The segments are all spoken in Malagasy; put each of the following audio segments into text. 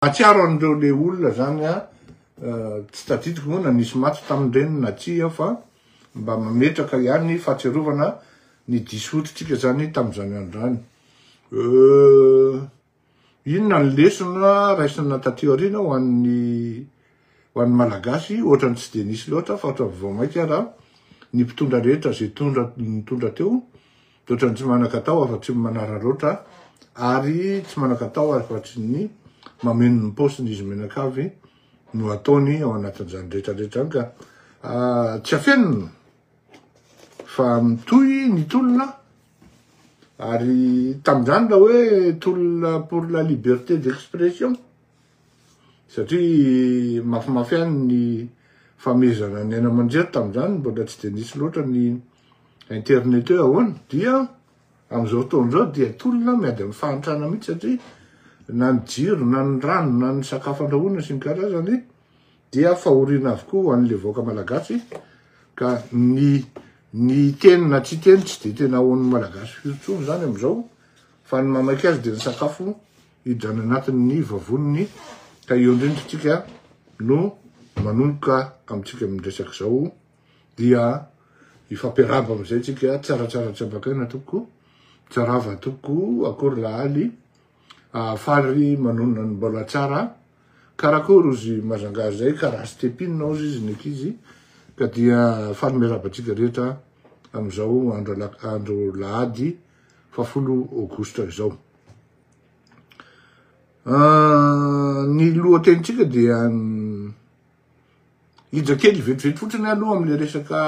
Mahatsiaro an'ireo le olona zany a, tsy tadidiko moa na nisy maty tamin'ireny na tsia fa mba mametraka ihany fahatsiarovana ny diso oditrika zany tamin'izany andro zany. Euh inona ny lesona raisina taty aoriana ho an'ny Ho an'ny Malagasy, ohatrany tsy dia nisy loatra fa ohatrany vao maika ara ny mpitondra rehetra izay tondra nitondra teo dia ohatrany tsy manan-katao afa-tsy ny manararaotra ary tsy manan-katao afa-tsy ny mameno ny paosiny izy menakavy no ataony ao anatin'izany rehetra rehetra izany ka ah, tsy afenina fa mitohy ny tolona ary tamin'izany raha hoe tolona pour la liberté d'expression Satria mafimafy ihany ny famehezana ny aina aman-jery tamin'izany, mbola tsy dia nisy loatra ny internet hoe ahoana, dia amin'izao fotoana izao dia tolona miady amin'ny fahantrana mihitsy satria na ny jiro na ny rano na ny sakafo andrahoina sy ny karazany dia fahoriana avokoa ho an'ilay vahoaka malagasy ka ny ny hiteny na tsy hiteny tsy dia tena ahoan'ny malagasy firy intsony izany amin'izao fa ny maha maika azy dia ny sakafo hidrana anatin'ny vavoniny ka eo indrindra isika no manomboka amintsika miresaka izao dia hifampiarahaba amin'izay tsika tsaratsara tsy ambakaina tompoko tsarava tompoko akory lahaly ahafaly manonona ny mbola tsara karakory ozy mazangaha izay ka raha sy tepinina ozy izy ny ankizy ka dia faly miarabantsika rehetra amin'izao andro andro lahady fafolo aogositra izao Ah, ny lohatenitsika dia hija kely vetivety fotsiny aloha amin'le resaka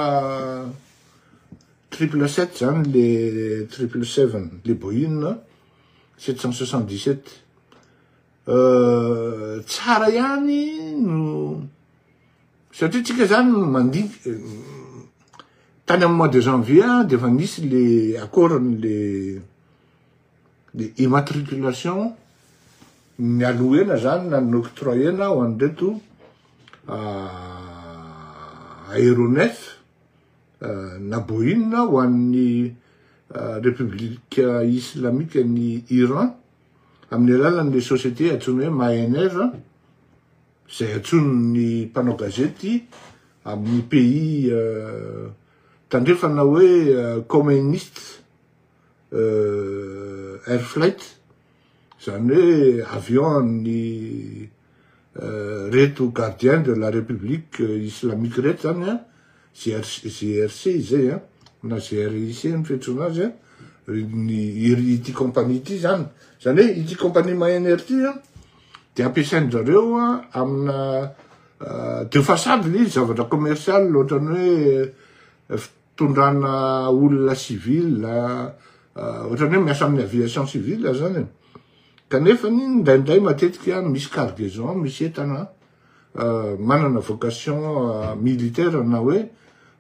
triple sept zany le triple seven le Boeing sept cent soixante dix sept ah, tsara ihany no satria tsika zany mandidy eh, tany amin'ny mois de janvier dia efa nisy le accord le ny immatriculation ny aloena zany na ny octroyena ho an'ireto aéronef na Boeing ho an'ny République islamique an'i Iran amin'ny alalan'ny société antsoina hoe Mahener izay antsoin'ny mpanao gazety amin'ny pays tandrefana hoe communiste air flight, izany hoe avion an'ny reto gardien de la République islamique reto izany an, GRC izay an, na GRIC ny fiantsoana azy an, ity compagnie ity izany, izany hoe ity compagnie Maen'Air ity an, dia ampiasain-drizareo an amina de façade ilay izy, zavatra commercial ohatran'ny hoe, tondrana olona civil ohatrany hoe miasa amin'ny aviation civil zany e. Kanefa ny indraindray matetika misy cargaison misy entana manana vocation militaire na hoe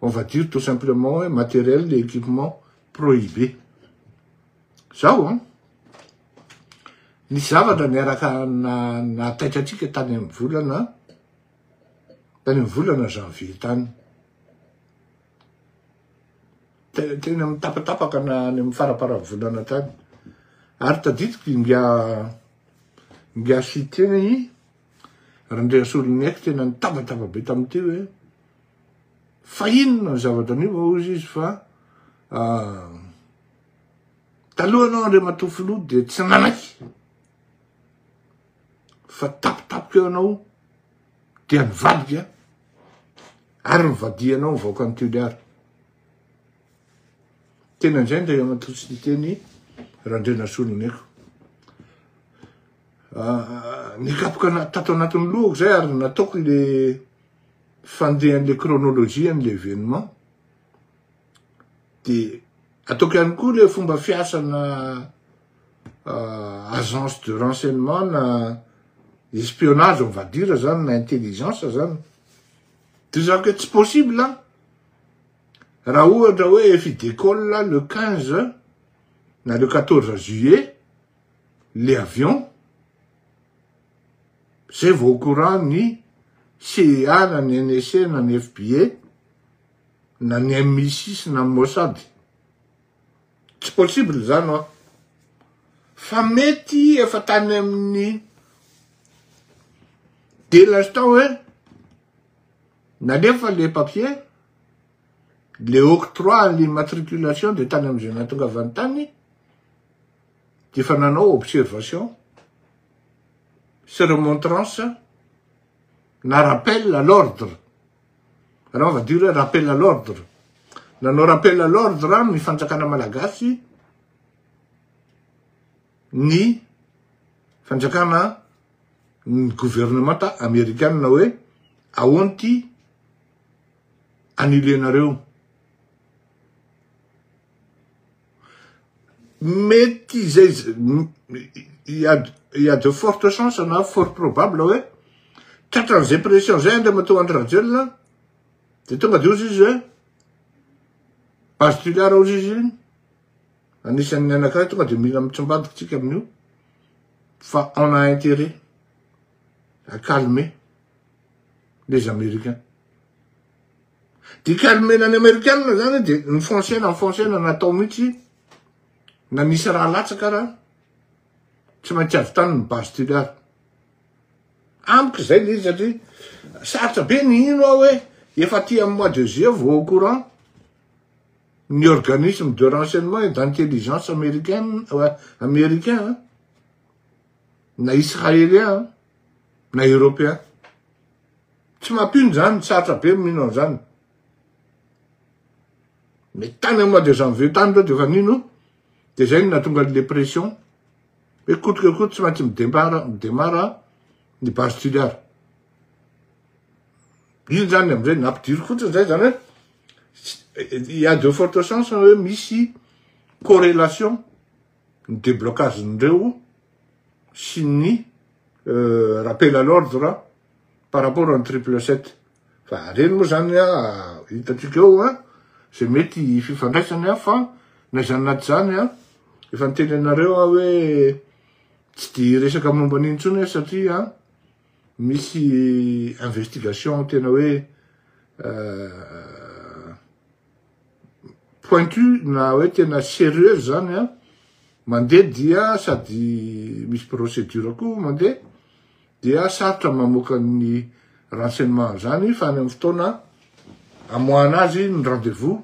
on va dire tout simplement hoe matériel et équipement prohibé. Zao an, nisy zavatra niaraka nahataitra antsika tany amin'ny volana Tany amin'ny volana janvier tany. Tena teny amin'ny tapatapaka na any amin'ny faraparan'ny volana tany. Ary tadidiko inga inga sy tena i Randriasoloniaiko tena nitabataba be tamin'ity hoe fa inona ny zavatra anio va hozy izy fa ah, talohanao Andriamatoa Filoha dia tsy nanaiky fa tapitapika eo anao dia nivadika ary nivadihanao ny vahoakan'ny Toliara. Tena indray ndray ramatoa tsy niteny Randrianasoa Nomeko. Ah, nikapoka tato anatin'ny lohako zay ary nataoko le fandehan'le chronologie an'le événement dia ataoko ihany koa ilay fomba fiasana euh, agence de renseignement na espionnage on va dire zany na intelligence zany dia zako hoe tsy possible an raha ohatra hoe efa idécolle le 15 na le 14 juillet le avion zay vao au courant ny CEA na ny NSC na ny FBA na ny MI6 na ny Mossad. Tsy possible izany hoa. Fa mety efa tany amin'ny dès l'instant hoe nalefa le papier, le octroi à l'immatriculation dia tany amin'izay nahatongavany tany dia efa nanao observation sy remontrance na rappel à l'ordre. Raha vadio hoe rappel à l'ordre. Nanao rappel à l'ordre amin'ny fanjakana malagasy ny fanjakana ny gouvernemanta amerikanina hoe ahoana ity annuler-nareo. Mety izay, il y a, il y a de fortes chances na fort probable hoe, tratran'izay pression izay Andriamatoa Andry Rajoelina, dia tonga dia hozy izy hoe, azo toliara hozy izy, anisan'ny anankiray tonga dia mila mitsambadika isika amin'io, fa on a intérêt à calmer les Américains. Dika nomena ny amerikanina zany de nifoncena nifoncena natao mihitsy na nisy raha latsaka ara tsy maintsy avy tany ny base tiliara amiko izay le izy satria sarotra be ny hino aho hoe efa aty amin'ny mois de juillet vao au courant ny organisme de renseignement et d'intelligence américaine euh, américain na israélien na Européen. Tsy mampino zany, sarotra be mino an'zany. Mais tany am mois de janvier tany reo defa nino, de zay no nahatonga le pression, hoe koto ke koto tsy maintsy midempara, midemara ny base tiliar. Iny zany amzay nampidiro fotsiny zay zany hoe, il ya de forte chance hoe misy correlation ny deblocage-n'ireo sy ny rappel à l'ordre par rapport an'i triple sept. Fa reny moa zany hitantsika eo an, zay mety fifandraisany an, fa na izany na tsy izany an, efa niteny anareo aho hoe tsy dia hiresaka momba an'iny intsony aho satria misy investigation tena hoe. pointu na hoe tena serieuse zany a, mandeha dia sady misy procedure koa mandeha dia sarotra ny mamoaka ny renseignement an'izany fa any amin'ny fotoana amoahana azy ny rendez-vous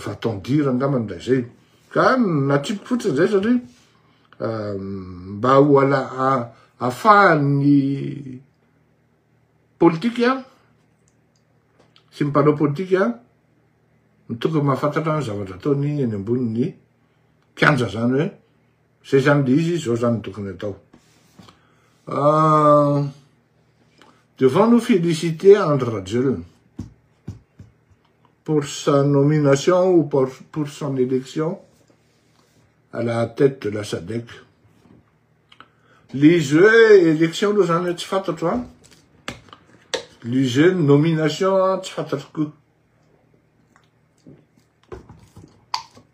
va-t-on dire angamba ny ilay izay. Ka natriko fotsiny izay satria mba ho ala afahan'ny politika sy ny mpanao politika no tokony mahafantatra ny zavatra ataony eny ambonin'ny kianja zany hoe zay zany le izy zao zany tokony atao ah, devant nous féliciter Andry Rajoelina pour sa nomination ou pour son élection à la tête de la SADEC. Lise hoe élection aloha zany hoe tsy fantatro an. Lise nomination an tsy fantatro koa.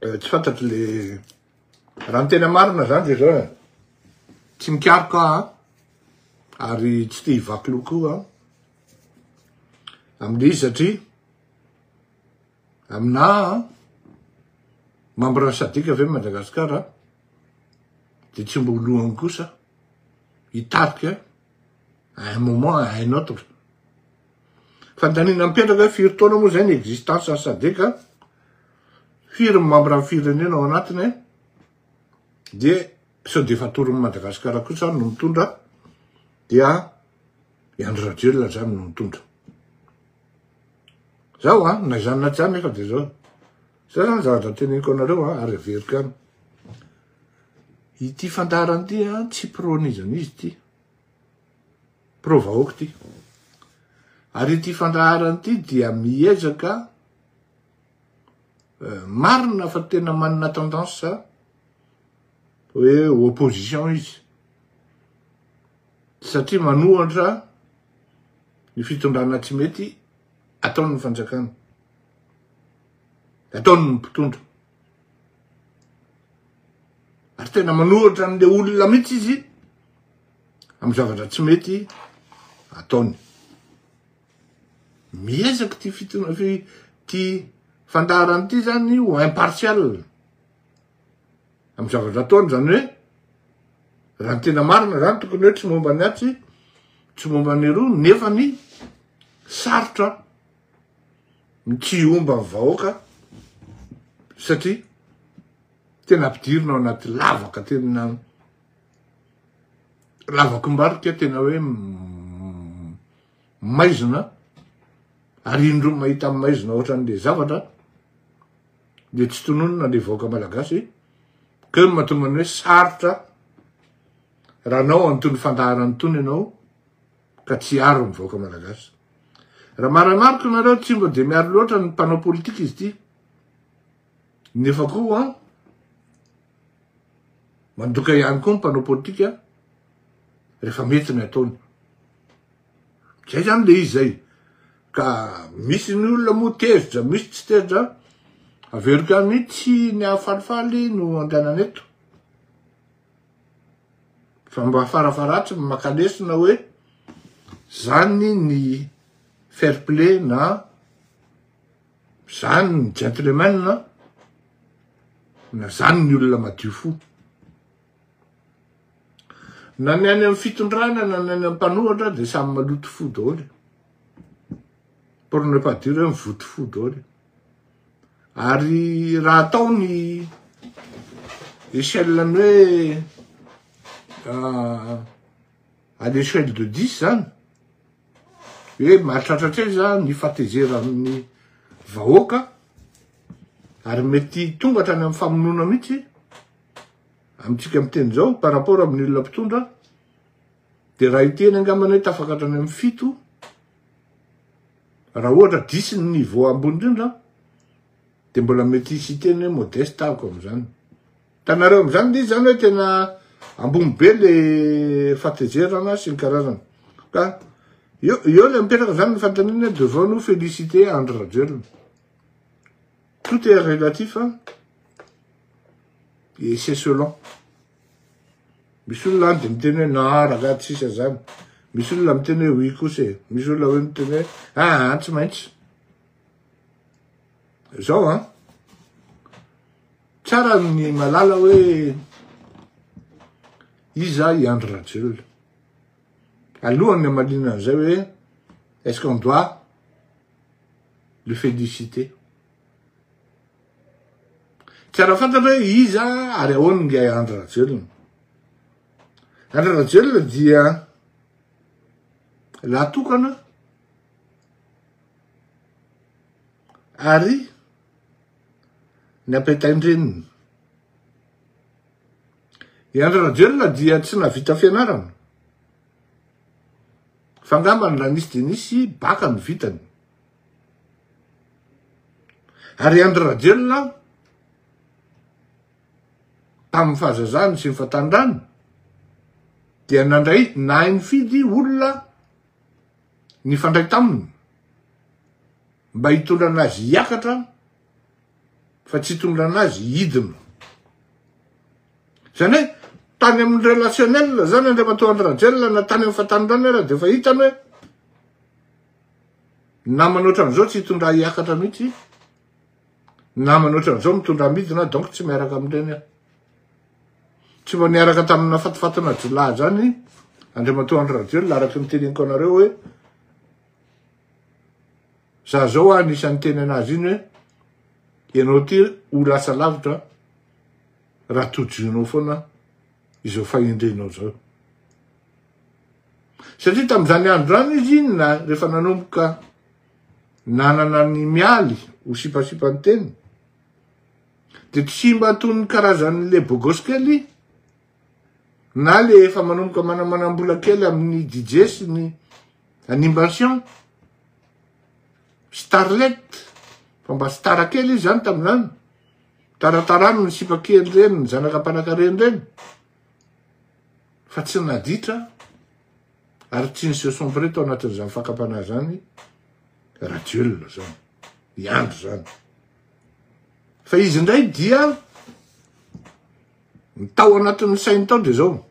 Eh, tsy fantatro le raha ny tena marina zany de zao e. Tsy mikaroka an. Ary tsy te hivaky loha koa an. Amin'izy satria Aminà membre Sadc ve Madagasikara dia tsy mba ho lohany kosa hitarika à un moment à un autre. Fandaniana mipetraka hoe firy taona moa izay ny existence an'i Sadc, firy ny membre ny firenena ao anatiny dia sao dia efa atoron'i Madagasikara kosa no mitondra dia i Andry Rajoelina izany no mitondra. Zao a, na izany na tsy izany nefa dia zao. Zay zany zavatra teneniko anareo a, ary averiko ihany. Ity fandaharana ity a, tsy pro-an'iza n'iza ity. Pro-vahoaka ity. Ary ity fandaharana ity dia miezaka eh, marina fa tena manana tendance hoe opposition izy. Satria manohatra Ny fitondrana tsy mety ataon'ny fanjakana, ataon'ny mpitondra. Ary tena manohatra an'ilay olona mihitsy izy amin'ny zavatra tsy mety ataony. Miezaka ty fitondrana ty fandaharana ty zany ho impartial. amin'ny zavatra ataony zany hoe raha ny tena marina zany tokony hoe tsy momba ny atsy tsy momba ny roa nefa ny sarotra ny tsy omba ny vahoaka satria tena ampidirina ao anaty lavaka tena lavako mbarika tena hoe maizina ary indro mahita maizina ohatran'le zavatra dia tsy tononina ny vahoaka malagasy keo no mahatonga ny hoe sarotra raha anao an'itony fandaharana itony ianao ka tsy hiaro ny vahoaka malagasy raha maramariko nareo tsy mba dia miaro loatra ny mpanao politika izy ity nefa koa mandoka ihany koa ny mpanao politika rehefa mety ny ataony Zay zany le izy zay. Ka misy ny olona moa tezitra, misy tsy tezitra. Averiko ihany mihitsy ny hafalifaly no andehanana eto. Fa mba farafaharatsiny maka lesona hoe zany ny fair play na zany ny gentleman na zany ny olona madio fo. Na ny any amin'ny fitondrana na ny any amin'ny mpanohatra dia samy maloto fo daholo. Pour ne pas dire hoe mivoto fo daholo. Ary raha atao ny échelle ny hoe ah, à l'échelle de 10 zany, hoe mahatratra hatraiza zany ny fatezeran'ny vahoaka ary mety tonga hatrany amin'ny famonoana mihitsy amintsika amin'ny teny izao par rapport amin'ny olona mpitondra dia raha ity eny angambany hoe tafaka hatrany amin'ny fito raha ohatra disy ny niveau ambony indrindra dia mbola mety hisy hiteny hoe modeste ahako amin'izany tanareo amin'izany dia izany hoe tena ambony be le fatezerana sy ny karazana ka eo eo le mipetraka izany ny fanontaniana devons nous féliciter Andry Rajoelina Tout est relatif an! Et c'est selon. Misy olona any dia miteny hoe na ragah tsy sisa zany. Misy olona miteny hoe oui kosa e. Misy olona hoe miteny hoe ah tsy maintsy. Zao an! Tsara ny malala hoe iza i Andry Rajoelina. Alohan'ny hamaliana an'izay hoe est-ce qu'on doit Le fait du cité. Tsy ara fantatra hoe iza ary ahoana nge Andry Rajoelina. Andry Rajoelina dia lahatokana ary ny ampitain-dreniny. I Andry Rajoelina dia tsy navita fianarana. Fa ngamba ny lanisy dia nisy baka ny vitany. Ary Andry Rajoelina tamin'ny fahazazany sy ny fatanrany dia nandray nahay nifidy olona nifandray taminy mba hitondra anazy hiakatra fa tsy hitondrana azy hidina. Izany hoe tany amin'ny relationnel izany Andriamatoa Andry Rajoelina na tany amin'ny fatanindranony ary dia efa hitany hoe namana ohatran'izao tsy hitondra hiakatra mihitsy, namana ohatran'izao mitondra midina donc tsy miaraka amin'ireny aho. Tsy mba niaraka tamina fatifatina jiolahy izany Andriamatoa Andry Rajoelina araka ny teneniko anareo hoe Za zao ah nisy niteny anazy iny hoe ianao ty ho lasa lavitra raha tojoinao foana izao fahendrenao zao. Satria tamin'izany andro zany izy iny na rehefa nanomboka nanana ny mialy ho sipasipa ny teny dia tsy mba toy ny karazan'le bogosy kely na le efa manomboka manamanam-bola kely amin'ny DJ sy ny animation, starlet, fa mba star kely izy zany tamin'izany, taratarano ny sipa kely ireny, ny zanaka mpanankareny ireny, fa tsy naditra ary tsy ny se sombre tao anatin'izany fakam-panahy zany Rajoelina zany, i Andry zany. Fa izy indray dia Ny tao anatin'ny sainy tao dia izao,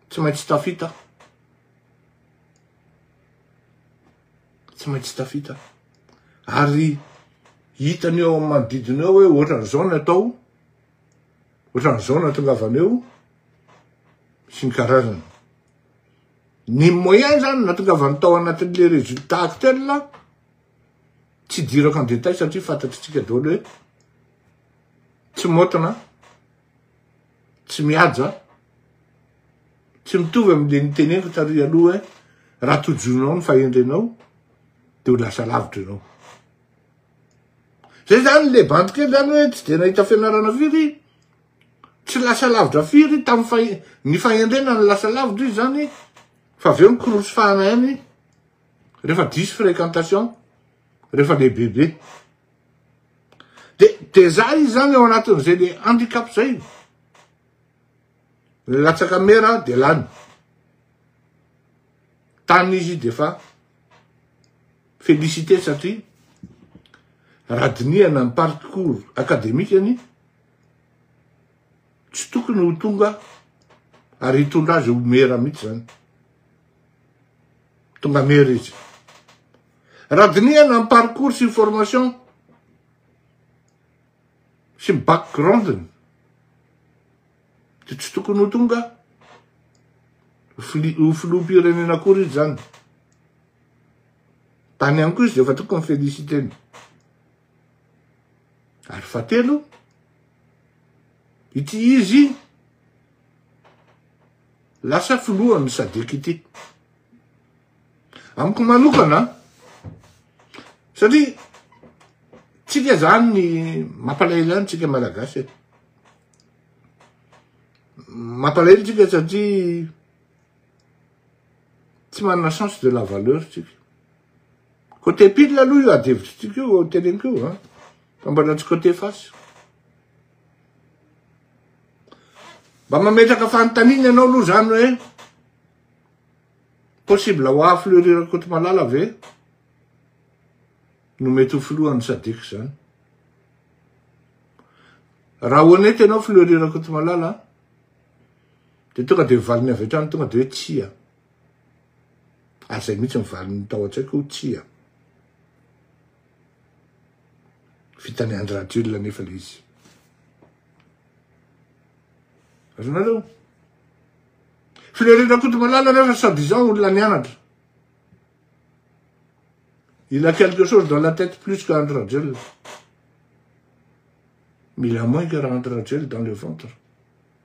tsy maintsy tafita aho. Tsy maintsy tafita aho. Ary hitany eo amin'ny manodidina eo hoe ohatran'izao ny atao, ohatran'izao ny atongavana eo, sy ny karazana. Ny moyen zany natongavany tao anatin'le résultat actuel, tsy dirako en détail satria fantatritsika daholo hoe tsy moatana, tsy mihaja, tsy mitovy amin'ilay niteneniko tary aloha hoe raha tojonao ny fahendrenao dia ho lasa lavitra ianao. Zay zany le bandy kely zany hoe tsy dia nahita fianarana firy, tsy lasa lavitra firy tamin'ny fahe ny fahendrena no lasa lavitra izy zany fa avy eo ny korosy fahana ihany rehefa diso fréquentation rehefa lehibebe. Dia dia za izy zany eo anatin'izay le handicap zay. Latsaka mera dia lany. Tany izy dia fa félicité satria raha dinihana ny parcours akademikany tsy tokony ho tonga ary hitondra azy ho mera mihitsy zany. Tonga mera izy. Raha dinihana ny parcours sy ny formation sy ny background-ny dia tsy tokony ho tonga ho filoham-pirenena akory izy izany. Tany ihany koa izy dia efa tokony féliciter-ny. Ary fahatelo, ity izy Lasa filohan'ny Sadc ity. Amiko manokana, satria tsika zany ny mampalahelo any tsika malagasy e. Mampalahelo tsika satria tsy manana sens de la valeur tsika. Côté pile aloha io adihevitro tsika io teneniko io, fa mbola tsy côté face. Mba mametraka fanontaniana ianao aloha zany hoe possible ho haha filoha irery Rakotomalala ve no mety ho filohan'ny Sadec zany? Raha honnête ianao filoha irery Rakotomalala dia tonga dia valiny avy hatrany tonga dia hoe tsia. Ary izay mihitsy ny valiny tao an-tsaiko hoe tsia. Vitan'i Andry Rajoelina anefa ilay izy. Azonareo? Filoha Rakotomalala anefa soi disant olona nianatra. Il a quelque chose dans la tête plus que Andry Rajoelina. Mila moins que Andry Rajoelina dans le ventre.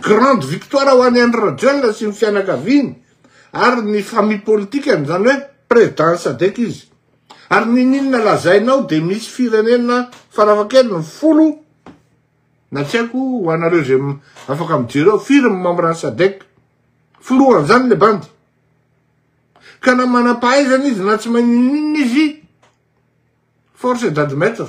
Grande victoire ho an'i Andry Rajoelina sy ny fianakaviany ary ny famille politikany, izany hoe président Sadec izy. Ary niniana lazainao dia misy firenena farafahakeliny folo na tsy haiko ho anareo izay afaka mijery eo, firy ny membre ny Sadec? Filohan'izany le bandy. Ka na manam-pahaizana izy na tsy mahay ninininona izy, force est d'admettre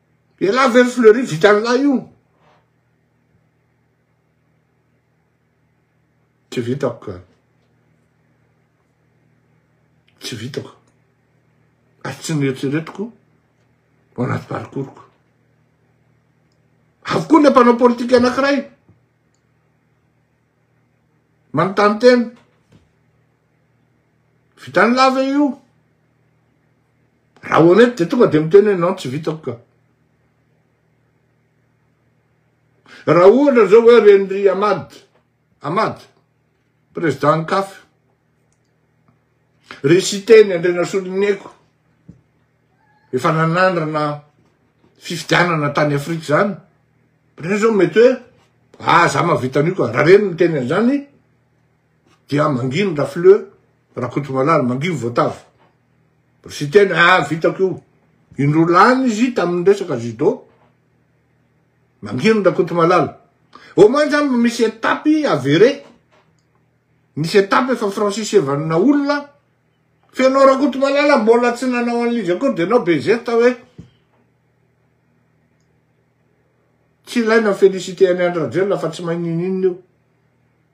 Elah ve ry Fleury vitanlah io? Tsy vitako ka. Tsy vitako. Ary tsy nieritreretiko ao anaty parcours-ko. Avokoa ilay mpanao politika anankiray. Manontany tena. Vitanlah ve io? Raha honnête dia tonga dia miteny hoe non tsy vitako ka. Raha ohatra zao hoe renindry Ahmad, Ahmad, président CAF, ry Siteny Andrianasoloniaiko, efa nanandrana fifidianana tany Afrika zany, reny zao mety hoe, ah za mahavita an'io ka, raha reny miteny an'izany, Dia manginy Rafleu Rakotomalala, manginy Voatavo. Ry Siteny, ah vitako io. Indroa lany izy tamin'ny resaka judo. Manginy Rakotomalala. Au moins zany mba misy étape avéré. Misy étape efa franchisevanina olona. Fa ianao Rakotomalala mbola tsy nanao an'il'izy akory dia ianao be zesta hoe tsy ilaina mi-féliciter an'i Andry Rajoelina fa tsy mahay n'inon'inona io.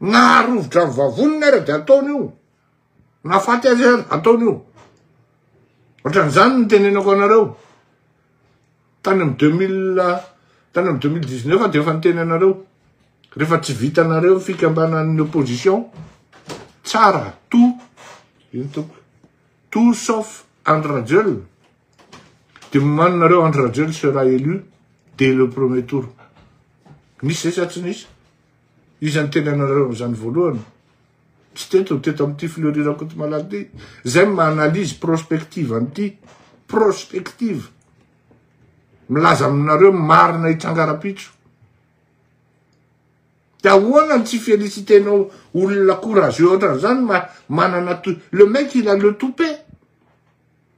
Naharovitra ny vavoniny ary dia ataony io. Nahafaty azy ary ataony io. Ohatran'izany ny tenenako anareo. Tany amin'ny 2000, tany amin'ny 2019 dia efa niteny anareo. Rehefa tsy vitanareo ny fikambanan'ny opposition, tsara, tout, ino toko, tout sauf Andry Rajoelina. De mimano nareo Andry Rajoel sera élu dès le premier tour. Nisy zay sa tsy nisy? Iza niteny anareo an'izany voalohany? Tsy teto, teto amin'ity Fleury Rakotomalala ty. Zay ma analyse prospective an'ity. Prospective. Milaza aminareo marina hitranga rapitso. De ahoana ny tsy félicitenao olona courageux ohatran'izany ma manana le mec il a le toupet.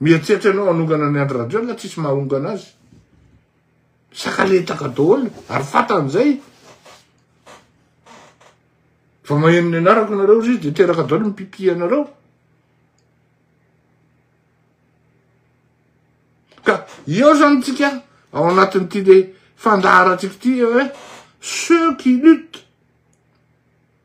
Mieritreritra ianao hanongana an'i Andry Rajoelina tsisy mahongana azy. Sakaletaka daholo ary fantany izay. Vao maheno ny anarako ianareo ry dia teraka daholo ny pipi anareo. Ka eo zany tsika ao anatin'ity le fandaharantsika ity hoe ceux qui luttent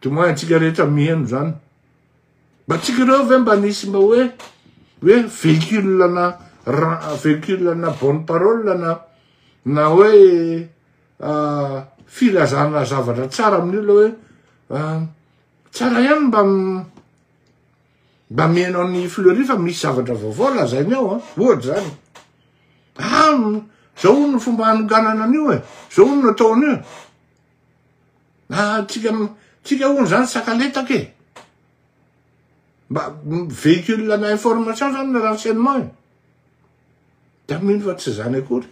Dia moa antsika rehetra miheno izany. Mba tsika ireo ve mba nisy mba hoe hoe véhicule na véhicule na bonne parole na na hoe ah, filazana zavatra tsara amin'ny olona hoe ah, tsara ihany mba mba miheno an'i Fleury fa misy zavatra vaovao lazainy ao an, ah. ohatra izany. Ah, zao no fomba hanoganana an'io e, zao no atao an'io. Ah tsika tsika hono zany sakaletaka e. Mba véhicule ana information zany ny renseignement e. Da mino fa tsy zany akory.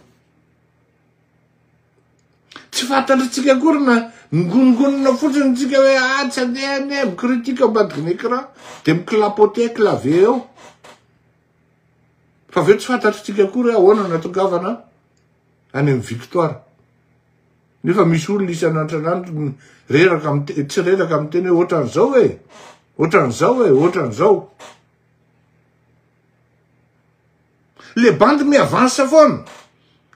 Tsy fantatra tsika akory na ngonongonona fotsiny tsika hoe ah tsy andeha ane eh, mikritika ambadiky ny écran de miklapote clavier eo. Fa avy eo tsy fantatra tsika akory hoe ahoana natokavana any amin'ny victoire. Nefa misy olona isan'androsan'andro reraka miteny, tsy reraka miteny hoe ohatran'izao e, ohatran'izao e, ohatran'izao. Le bandy miavansa foana.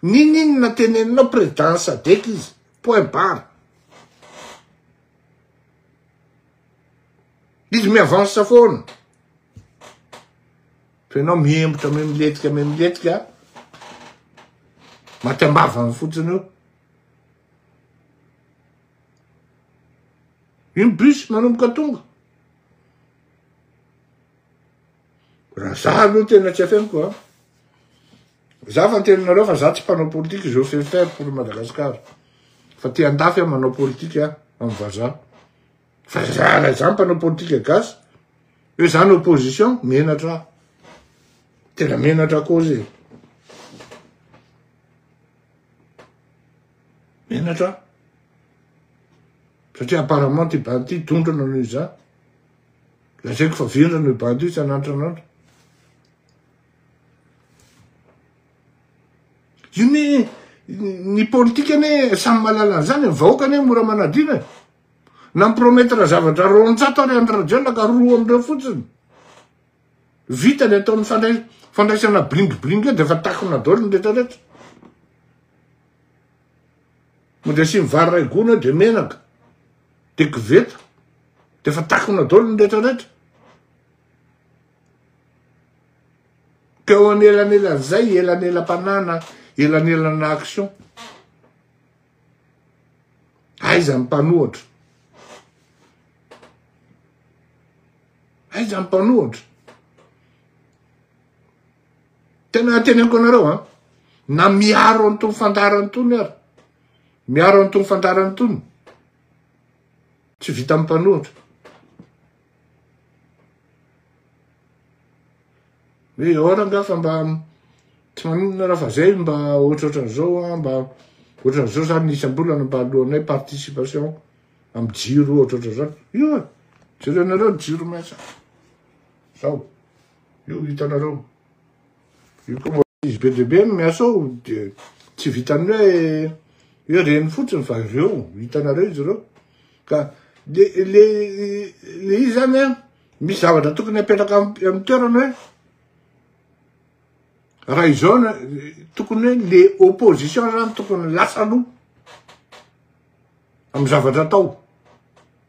N'inon'inona teneninao président sadec izy. Point barre. Izy miavansa foana. Fa ianao mihemotra mimilentika mimilentika maty am-bavany fotsiny io. Iny bus manomboka tonga. Raha za aloha tena tsy afeniko a. Za fa teninareo fa za tsy mpanao politika je fais faire pour Madagascar. Fa te andafy aho manao politika amin'ny vazaha. Fa zara izany mpanao politika gasy. Hoe izany opposition, menatra aho. Tena menatra kozy e. Menatra aho. Satria apparemment ty bandy ty dondrana noho izany. Lazaiko fa vendrana io bandy io tsy anantra anantra. Io ne ny politika ne samy malala an'izany, ny vahoaka ne mora manadina. Nampromettre zavatra roanjato ary Andry Rajoelina ka roa amin'ireo fotsiny. Vita ny ataon'ny fandray fandraisana bling bling dia efa takona daholo ny rehetra rehetra. Mody asiany vary ray gony dia menaka. Dia koveta. Dia efa takona daholo ny rehetra rehetra. Ka eo anelanelan'izay, elanelam-panana, elanelan'action. Aiza ny mpanohatra? Aiza ny mpanohatra? Tena anteneniko anareo an, na miaro an'itony fandaharana itony ary, miaro an'itony fandaharana itony, tsy vitan'ny mpanohatra. Hoe ahoana nga fa mba tsy maninona raha fa zay mba ohatrohatran'izao a mba ohatran'izao zany isam-bolana mba alohanay participation am jiro ohatrohatra zany io e jerenareo ny jiro maitso zao io hitanareo Io koa mbola izy be dia be no miasa ao dia tsy vitan'ny hoe hoe reny fotsiny fa ireo hitanareo izy ireo ka le le le izy zany a misy zavatra tokony apetraka amin'ny toerana hoe raha izao na tokony hoe le opposition zany tokony lasa aloha amin'ny zavatra atao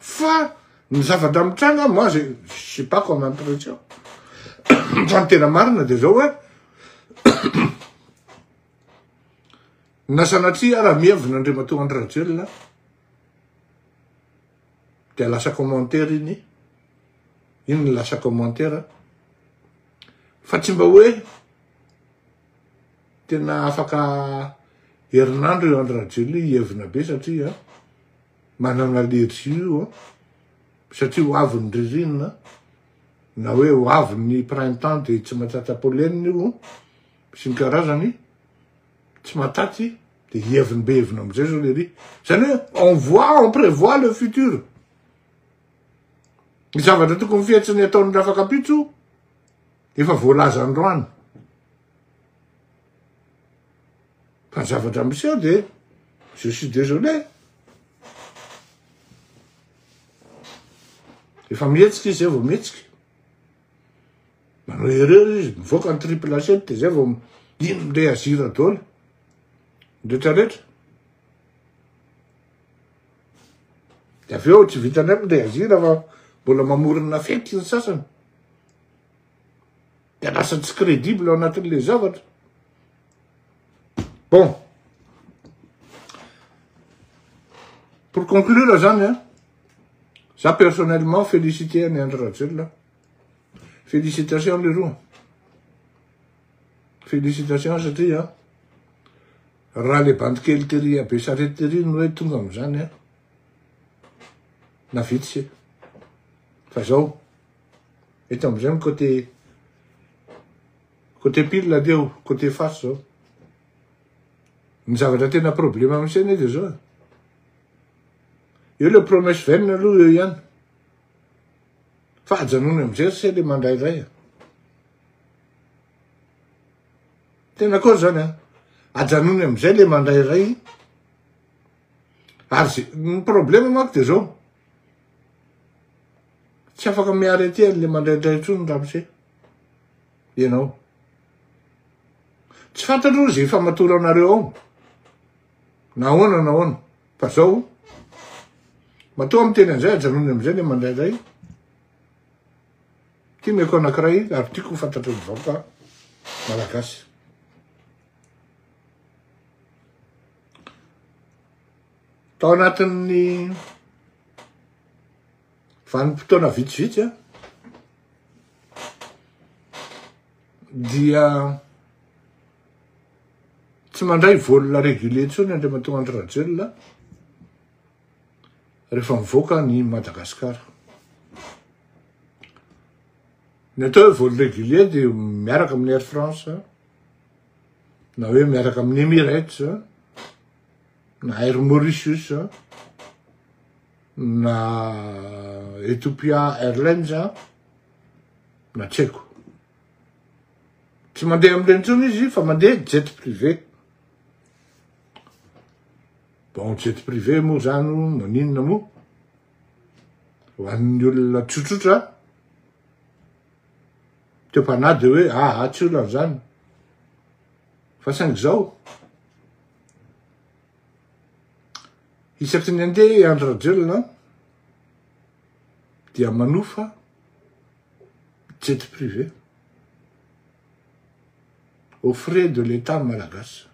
Fa ny zavatra mitranga moi je suis pas comme impression fa ny tena marina dia zao hoe na sanatria ara mihevina Andriamatoa Andry Rajoelina dia lasa commentaire iny iny lasa commentaire fa tsy mba hoe Tena afaka herinandro io Andry Rajoelina io hievina be satria manana allergie io satria ho avy ny ririnina na hoe ho avy ny printemps dia tsy mahatratra pollen io sy ny karazany tsy mahatratsy dia hieviny be hevina amin'izay zao lery izany hoe on voit on prévoit le futur ny zavatra tokony fihetsiny ataon'ny rafakampitso Efa voalaza androany fa ny zavatra miseho dia je suis désolé efa mihetsika izy zay vao mihetsika manao erreur izy mivoaka ny triple acep dia zay vao ino le azira dolo retraretra de avy eo tsy vitany aminy le azira fa mbola mamorona fety ny sasany dia lasa tsy credible ao anatin'le zavatra bon pour conclure zany an za personnellement félicité an'i Andry Rajoelina félicitations leroa félicitations satria an raha le bandikely tery abe sarety tery no hoe tonga amin'izany an na vitsy fa zao Eto amzay am côté côté pile dia o côté face zao. Ny zavatra tena problème am sena dia zao. Eo le promesse vaine aloha eo ihany. Fa ajanony amzay ry se le mandrairay a. Tena akory zany a. Ajanony amzay le mandrairay. Ary ze ny problème manko dia zao. Tsy afaka miary aty ary le mandraindray intsony ramose ianao. Tsy fantatro izay famatoranareo ao. Nahoana nahoana. Fa zao matoa miteny an'izay ajanony amin'izay le mandraindray. Ty meko anankiray ary tiako fantatry ny vahoaka malagasy. Tao anatin'ny vanim-potoana vitsivitsy an, dia tsy mandray volona régulier intsony Andriamatoa Andry Rajoelina rehefa mivoaka ny Madagascar. Ny atao hoe vol régulier dia miaraka amin'ny Air France na hoe miaraka amin'ny Emirates na Air Mauritius, na Ethiopia Airlines, na tsy haiko. Tsy mandeha amin'ireny intsony izy fa mandeha jet privé. Bon, jet privé moa zany maninona moa? Ho an'ny olona tsotsotra, teo panahy dia hoe aha tsy olona zany. Fa saingy izao, Isaky ny andeha i Andry Rajoelina dia manofa jet privé au frais de l'État malagasy.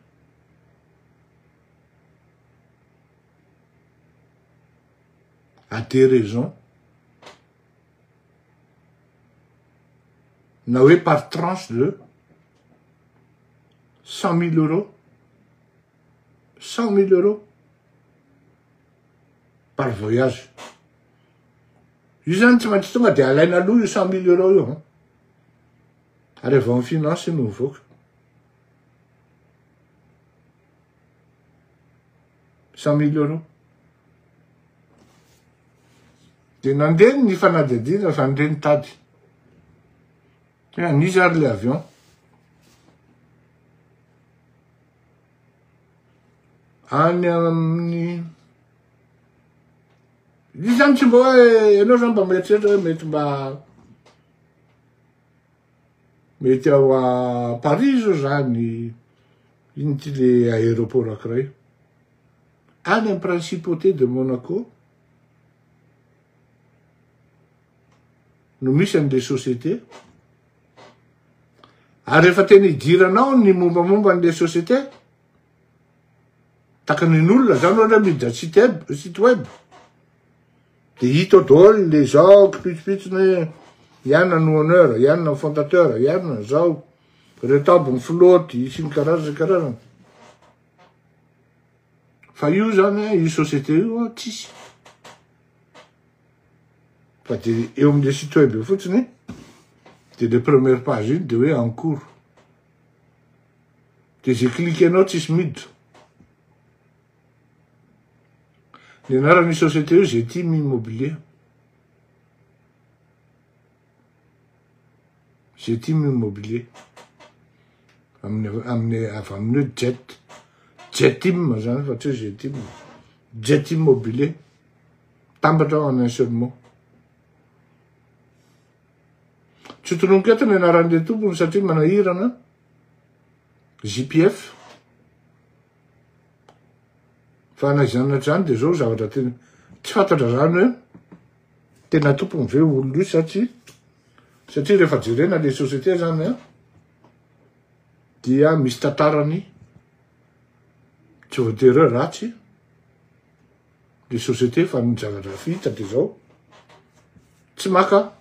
A des raisons na hoe par tranche de cent mille euros, cent mille euros par voyage. Io zany tsy maintsy tonga dia alaina aloha io cent mille euros io an. Ary avy ao amin'ny finance no mivoaka. cent mille euros. Dia nandeha ny fanadihadiana izany indray nitady. Hoe an'iza ary ilay avion. Any amin'ny Izy zany tsy mba hoe ianao zany mba mieritreritra hoe mety mba mety ao a Paris zao zany Ino ity le aéroport ankiray? Any am principauté de Monaco no misy an'le société. Ary rehefa tena idiranao ny mombamomba an'le société, takanin'olona zany ohatra miditra site web, site web de hita daholo le zao kipitsopitsony hoe ianona no honneur, ianona ny fondateur, ianona zao. Reto aby ny filoha ty sy ny karazany karazany. Fa io zany io société io tsisy. Fa de eo amin'ny site web eo fotsiny de le première page iny de hoe en cours. De ze cliquenao tsisy miditra. Ny anaran'ny société io Zetime Immobilier. Zetimo immobilier amin'ny avy amin'ny hoe jet jetim zany fa tsy hoe zetimo jet immobilier tambatra ao en un seul mot tsy tononiko eto ny anaran'le tompony satria manahirana JPF fa na izany na izany dia zao zavatra tena tsy fantatra zany hoe Tena tompony ve olona io sa tsia? Satria rehefa jerena le société zany an dia misy tantarany tsy voatery ratsy le société fa ny zavatra fihita dia zao tsy maka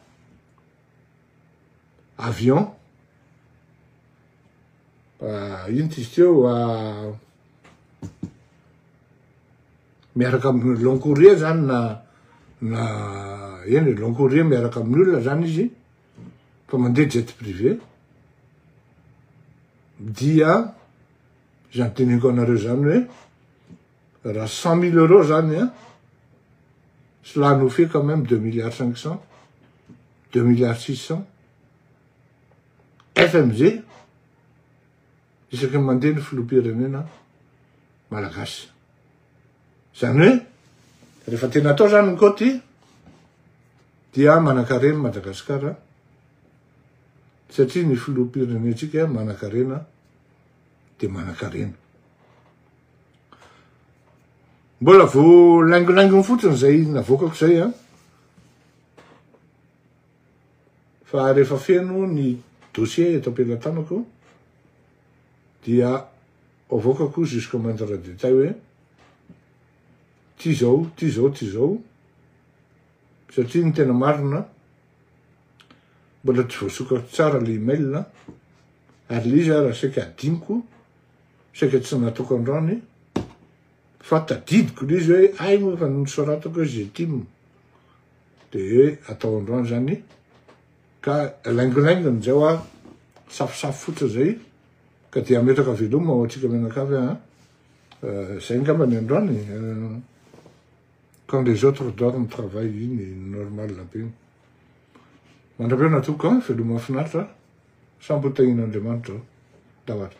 avion Inty izy teo miaraka amin'ny long courrier zany na na eny long courrier miaraka amin'ny olona zany izy fa mandeha jet privé dia zany teneniko anareo zany hoe raha cent mille euros zany a cela nous fait quand même deux milliards cinq cents deux milliards six cents FMJ, isaky ny mandeha ny filoham-pirenena malagasy. Izany hoe, rehefa tena atao izany ny kaoty, dia manan-karena Madagasikara, satria ny filoham-pirenentsika manan-karena, dia manan-karena. Mbola vao laingolaingony fotsiny izay navoakako izay an. Fa rehefa feno ny dossier eto am-pelatanako dia avoakako jusqu'au moindre détail hoe ty zao, ty zao, ty zao satria ny tena marina mbola tsy voasokako tsara le email ary le izy ara saika hadinoko, saika tsy nataoko androany fa tadidiko le izy hoe hay moa fa nosoratako hoe Getim. Dia atao androany izany ka laingolaingony izay hoa safosafo fotsiny izay ka dia ametraka veloma ho antsika mianakavy a. Izay ngamba ny androany. Quand les autres dorment travaille iny normal be iny. Mandra-pihaona tompoko a, veloma mahafinaritra a. Samy ho tahian'Andriamanitra o. Tahotra.